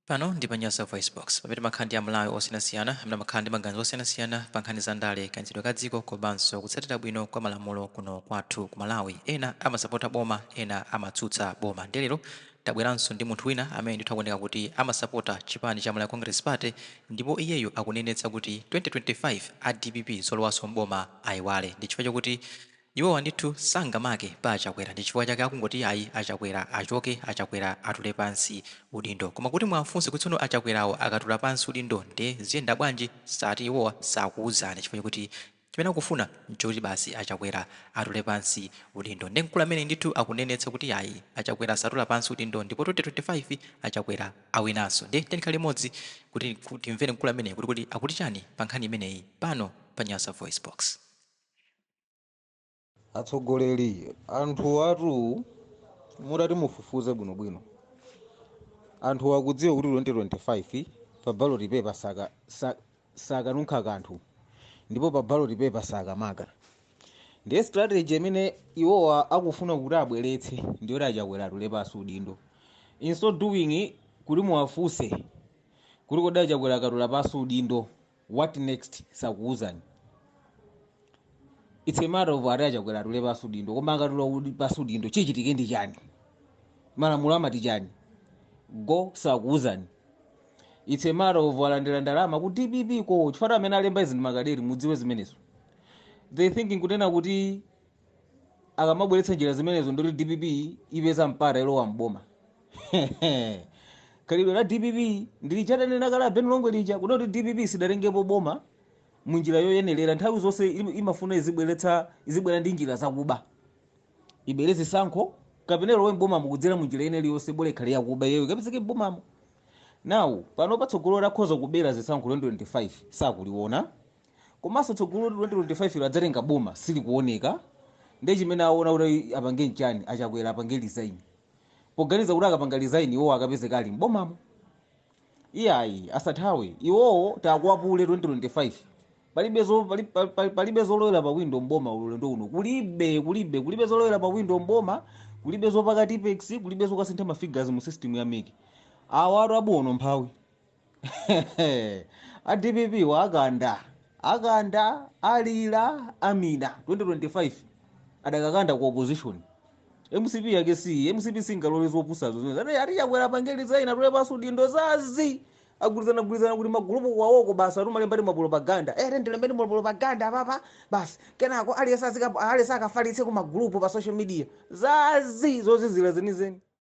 Pano ndi pa Nyasa VoiceBox, pamene timakhala ndi a Malawi osiyanasiyana amene amakhala ndi maganizo osiyanasiyana pa nkhani za ndale, kayendetsedwe ka dziko komanso kutsatira bwino kwa malamulo kuno kwathu ku Malawi. Ena amasapota boma, ena amatsutsa boma. Ndiye lero tabweranso ndi munthu wina amene ndithu akuoneka kuti amasapota chipani cha Malawi Congress Party ndipo iyeyu akunenetsa kuti 2025 a dpp zolowanso m'boma aiwale ndi chifukwa chakuti Iwowa ndithu sangamake pa achakwera ndichifukwa chake akungoti ayi achakwera achoke achakwera atule pansi udindo koma kuti muwafunse kuti tsono achakwerawo akatula pansi udindo nde ziyenda bwanji sati iwowa sakuuzani chifukwa chakuti chimene akufuna nchokuti basi achakwera atule pansi udindo nde mkulu ameneyi ndithu akunenetsa kuti ayi achakwera satula pansi udindo ndipo 2025 achakwera awinanso nde tiyeni tikhale limodzi kuti timvere mkulu ameneyi kuti kodi akuti chani pa nkhani imeneyi pano pa nyasavoicebox. atsogoleri anthu atu mutati mufufuze bwinobwino anthu akudziwa kuti 2025 pa ballot paper sakanunkha kanthu ndipo pa ballot paper sakamaka ndiye strategy imene iwowa akufuna kuti abweretse ndiyoti achakwera atule pansi udindo in so doing kuti muwafunse kuti kodi achakwera akatula pansi udindo what next sakuuzani it's a matter of ati achakwera atule pansi udindo koma akatula pansi udindo chichitike ndi chani malamulo amati chani go sakuuzani it's a matter of alandira ndalama ku dpp ko chifukwa amene alemba izi ndi makadeti mudziwe zimenezo they thinking kunena kuti akamabweretsa njira zimenezo ndoti dpp ipeza mpata ilowa mboma khalidwe la dpp ndi lija tanena kale abeni longwe lija kunena kuti dpp sinatengepo boma mu njira yoyenerera nthawi zonse im- imafuna izibweretsa izibwera ndi njira zakuba ibere zisankho kapena ilowe mbomamo kudzera mu njira ina iliyonse bola ikhale yakuba iyeyo ikapezeke mbomamo now panopa tsogolo lakhoza kubera zisankho 2025 sakuliona komanso tsogolo 2025 lodzatenga boma silikuoneka nde chimene aona kuti apange nchani achakwera apange resign poganiza kuti akapanga resign iwowo akapezeka ali m'bomamo iyayi asathawe iwowo takwapule 2025 palibe zo pali- pali- pali- palibe zolowera pa window mboma ulendo uno kulibe kulibe kulibe zolowera pa window mboma kulibe zopaka tippex kulibe zokasintha ma figures mu system ya mec awatu abuwone umphawi a dpp wa akanda akanda alira amina 2025 adzakakanda ku opposition mcp yake si mcp singalole zopusazo zimene ati ati achakwera apange resign atule pansi udindo zazi agwirizana gwirizana ku timagulupu kwawoko basi atumalemba timapropaganda eh tatilembeni mapropaganda apapa basi kenako aliyense azika- aliyense akafalitse ku magulupu pa social media zazi zozizira zenizeni